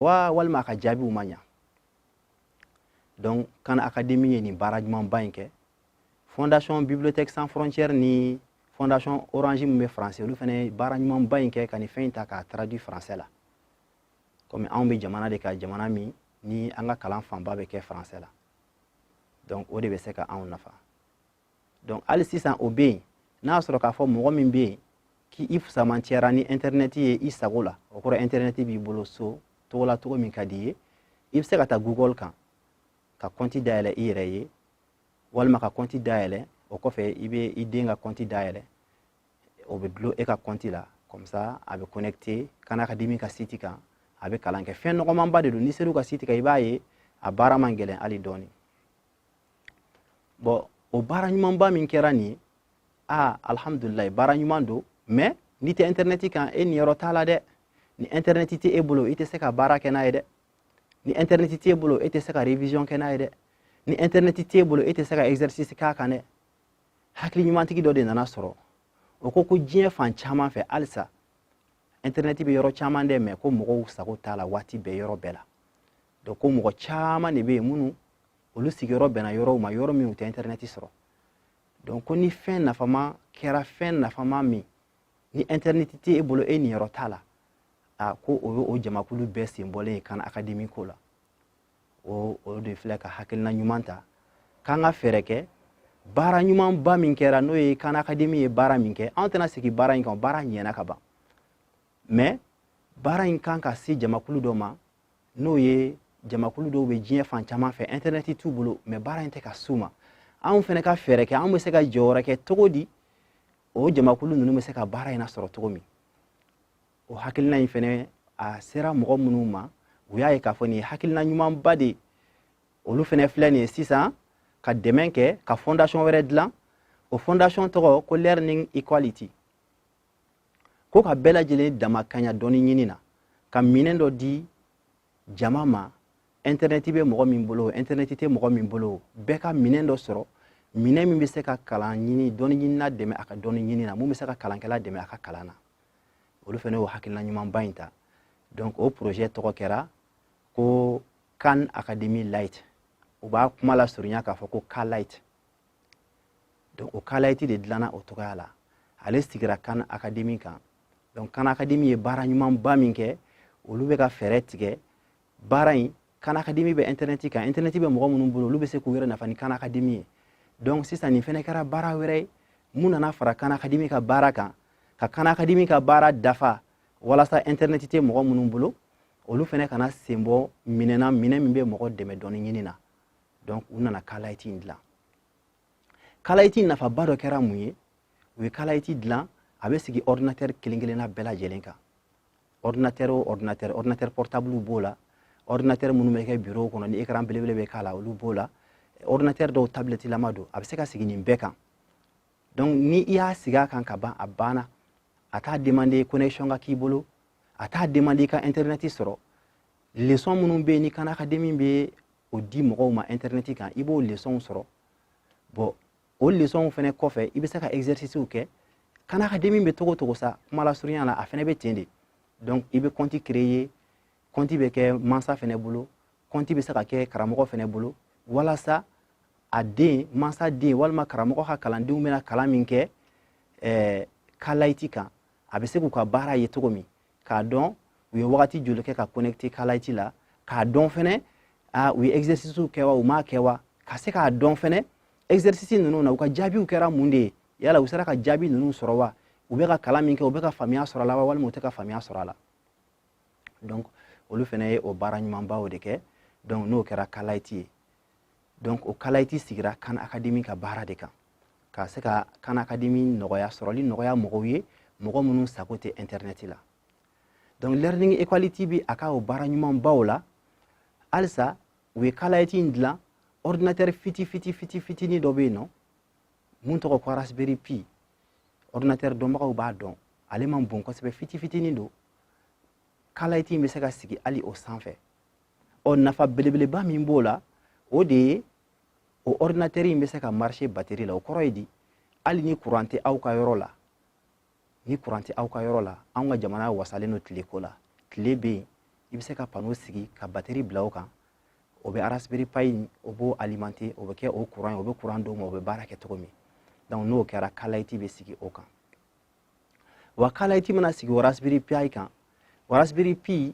wa walima a ka jaabiw ma ɲa donc khan academy ye nin baara ɲumanba in kɛ fondation bibliothèque sans frontières ni fondation orange min bɛ français olu fana ye baara ɲumanba in kɛ ka nin fɛn in ta k'a traduit français la komi anw bɛ jamana de kan jamana min ni an ka kalan fanba bɛ kɛ français la donc o de bɛ se ka anw nafa donc hali sisan o bɛ yen n'a y'a sɔrɔ k'a fɔ mɔgɔ min bɛ yen k'i fusamantiyara ni intɛrɛnɛti ye i sago la o kɔrɔ intɛrɛnɛti b'i bolo so cogo la cogo min ka di i ye i bɛ se ka taa google kan ka kɔnti dayɛlɛ i yɛrɛ ye walima ka kɔnti dayɛlɛ o kɔfɛ i bɛ i den ka kɔnti dayɛlɛ o bɛ dulon e ka kɔnti la comme ça a bɛ connecté khan academy ka site kan a bɛ kalan kɛ fɛn nɔgɔmanba de don n'i ser'u ka site kan i b'a ye a baara man gɛlɛn hali dɔɔni bɔn o baara ɲumanba min kɛra nin ye aa alhamdulilayi baara ɲuman don mɛ n'i tɛ intɛrɛnɛti kan e niyɔrɔ t'a la dɛ ni intɛrɛnɛti tɛ e bolo i tɛ se ka baara kɛ n'a ye dɛ ni intɛrɛnɛti t'e bolo e tɛ se ka révision kɛ n'a ye dɛ ni intɛrɛnɛti t'e bolo e tɛ se ka exercice k'a kan dɛ hakili ɲumantigi dɔ de nana sɔrɔ o ko ko diɲɛ fan caman fɛ halisa intɛrɛnɛti bɛ yɔrɔ caman dɛ mɛ ko mɔgɔw sago t'a la waati bɛɛ yɔrɔ bɛɛ la donc ko mɔgɔ caman de bɛ yen minnu olu sigiyɔrɔ bɛnna yɔrɔw ma yɔrɔ min u tɛ intɛrɛnɛti sɔrɔ donc ko ni fɛn nafama kɛra fɛn nafama min ni intɛrɛnɛti tɛ e bolo e niyɔrɔ t'a la a ko o ye o jamakulu bɛɛ sen bɔlen ye khan academy ko la o o de filɛ ka hakilina ɲuman ta k'an ka fɛɛrɛ kɛ baara ɲumanba min kɛra n'o ye khan academy ye baara min kɛ anw tɛna segin baara in kan baara ɲɛna ka ban mɛ baara in kan ka se jamakulu dɔ ma n'o ye jamakulu dɔw bɛ diɲɛ fan caman fɛ intɛrɛnɛti t'u bolo mɛ baara in tɛ ka s'u ma anw fana ka fɛɛrɛ kɛ anw bɛ se ka jɔyɔrɔ kɛ cogo di o jamakulu ninnu bɛ se ka baara in lasɔrɔ cogo min o hakilina in fana a sera mɔgɔ minnu ma u y'a ye k'a fɔ nin ye hakilina ɲumanba de ye olu fana filɛ nin ye sisan ka dɛmɛ kɛ ka fondation wɛrɛ dilan o fondation tɔgɔ ko learning equality ko ka bɛɛ lajɛlen damakaɲa dɔnni ɲini na ka minɛn dɔ di jama ma intɛrɛnɛti bɛ mɔgɔ min bolo intɛrɛnɛti tɛ mɔgɔ min bolo bɛɛ ka minɛn dɔ sɔrɔ minɛn min bɛ se ka kalan ɲini dɔnniɲinina dɛmɛ a ka dɔnni ɲini na min bɛ se ka kalankɛla dɛmɛ a ka kalan na olu fana y'o hakilina ɲumanba in ta donc o projet tɔgɔ kɛra ko khan academy lite u b'a kuma lasurunya k'a fɔ ko ka lite donc o kalayiti de dilanna o cogoya la ale sigira kan akademi kan donc kan akademi ye baara ɲumanba min kɛ olu bɛ ka fɛɛrɛ tigɛ baara in kan akademi bɛ intɛrɛnɛti kan intɛrɛnɛti bɛ mɔgɔ minnu bolo olu bɛ se k'u yɛrɛ nafa ni kan akademi ye donc sisan nin fɛnɛ kɛra baara wɛrɛ ye min nana fara kan akademi ka baara kan ka kan akademi ka baara dafa walasa intɛrɛnɛti tɛ mɔgɔ minnu bolo olu fɛnɛ kana sen bɔ minɛn na minɛn min bɛ mɔgɔ dɛmɛ dɔnni ɲini na donc u nana kalayiti in dilan kalayiti nafaba dɔ kɛra mun ye u ye kalayiti dilan a bɛ sigi ordinateur kelen kelenna bɛɛ lajɛlen kan ordinateur o ordinateur ordinateur portable b'o la ordinateur minnu bɛ kɛ bureau kɔnɔ ni écran belebele bɛ k'a la olu b'o la ordinateur dɔw tablette lama don a bɛ se ka sigi nin bɛɛ kan donc ni i y'a sigi a kan ka ban a banna a t'a demander connexion ka k'i bolo a t'a demander i ka internet sɔrɔ leçon minnu bɛ yen ni khan academy bɛ o di mɔgɔw ma intɛrɛnɛti kan i b'o lesɔnw sɔrɔ bon o lesɔnw fɛnɛ kɔfɛ i bɛ se ka ɛgzɛrisisiw kɛ kan akademi bɛ cogo o cogo sa kuma lasurunya la a fɛnɛ bɛ ten de donc i bɛ kɔnti kreye kɔnti bɛ kɛ mansa fɛnɛ bolo kɔnti bɛ se ka kɛ karamɔgɔ fɛnɛ bolo walasa a den mansa den walima karamɔgɔ ka kalandenw bɛna kalan min kɛ eh, kalayiti kan a bɛ se k'u ka baara ye cogo min k'a dɔn u ye wagati joli kɛ ka connecter kalayiti la k'a dɔn fɛnɛ a u ye exercice kɛ wa u m'a kɛ wa ka se k'a dɔn fɛnɛ exercice ninnu na u ka jaabiw kɛra mun de ye yala u sera ka jaabi ninnu sɔrɔ wa u bɛ ka kalan min kɛ u bɛ ka faamuya sɔrɔ a la wa walima u tɛ ka faamuya sɔrɔ a la donc olu fɛnɛ ye o baara ɲumanbaw de kɛ donc n'o kɛra kalayiti ye donc o kalayti sigira khan academy ka baara de kan ka se ka khan academy nɔgɔya sɔrɔli nɔgɔya mɔgɔw ye mɔgɔ minnu sago tɛ internet la donc learning equality bɛ a ka o baara ɲumanbaw la halisa u ye kalayti in dilan ordinateur fiti fiti fiti fitini dɔ bɛ yen nɔ min tɔgɔ ko raspberry pi ordinateur dɔnbagaw b'a dɔn ale man bon kosɛbɛ fiti fitini don kalayti in bɛ se ka sigi hali o sanfɛ ɔ nafa belebeleba min b'o la o de ye o ɔridinatɛri in bɛ se ka marise bateri la o kɔrɔ ye di hali ni kuran tɛ aw ka yɔrɔ la ni kuran tɛ aw ka yɔrɔ la anw ka jamana wasalen don tile ko la tile bɛ yen i bɛ se ka pano sigi ka bateri bila o kan o bɛ arasibiri payi o b'o alimante o bɛ kɛ o kuran ye o bɛ kuran d'o ma o bɛ baara kɛ cogo min donc n'o kɛra kalayiti bɛ sigi o kan wa kalayiti mana sigi o arasibiri payi kan o arasibiri pi